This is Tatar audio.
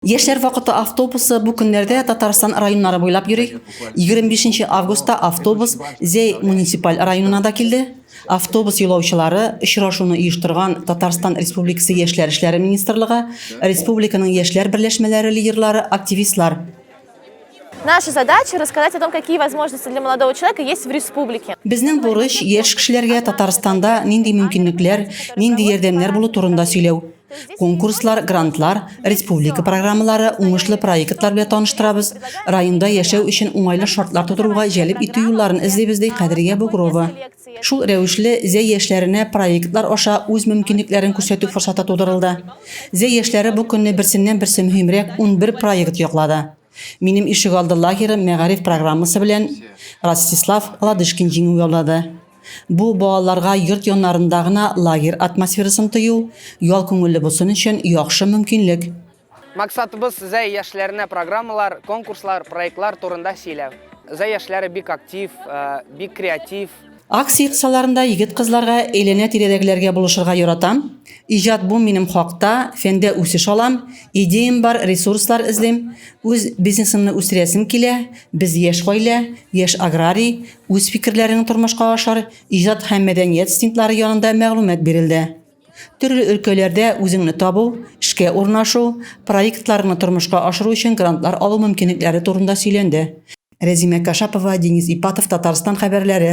Яшьләр вакыты автобусы бу көннәрдә Татарстан районнары буйлап йөри. 25 августта автобус Зәй муниципаль районына да килде. Автобус юлаучылары очрашуны оештырган Татарстан Республикасы Яшьләр эшләре министрлыгы, республиканың яшьләр берләшмәләре лидерлары, активистлар. Наша задача рассказать о том, какие возможности для молодого человека есть в республике. Безнең бурыч яшь кешеләргә Татарстанда нинди мөмкинлекләр, нинди ярдәмнәр булу турында сөйләү. Конкурслар, грантлар, республика программалары, уңышлы проектлар белән таныштырабыз. Районда яшәү өчен уңайлы шартлар тудыруга җәлеп итү юлларын эзлибез, ди Кадрия Бугрова. Шул рәвешле Зәй яшьләренә проектлар аша үз мөмкинлекләрен күрсәтү форсаты тудырылды. Зәй яшьләре бу көнне берсеннән-берсе мөһимрәк унбер проект яклады. Минем ишегалды лагеры мәгариф программасы белән Ростислав Ладышкин җиңү яулады. Бу балаларга йорт яннарында гына лагерь атмосферасын тою, ял күңелле булсын өчен яхшы мөмкинлек. Максатыбыз Зәй яшьләренә программалар, конкурслар, проектлар турында сөйләү. Зәй яшьләре бик актив, бик креатив. Акция кысаларында егет-кызларга, әйләнә-тирәдәгеләргә булышырга яратам, иҗат бу минем хакта, фәндә үсеш алам, идеям бар, ресурслар эзлим, үз бизнесымны үстерәсем килә, без яшь гаилә, яшь аграрий, үз фикерләрен тормышка ашар, иҗат һәм мәдәният стендлары янында мәгълүмат бирелде. Төрле өлкәләрдә үзеңне табу, эшкә урнашу, проектларыңны тормышка ашыру өчен грантлар алу мөмкинлекләре турында сөйләнде. Рәзимә Кашапова, Денис Ипатов, Татарстан хәбәрләре.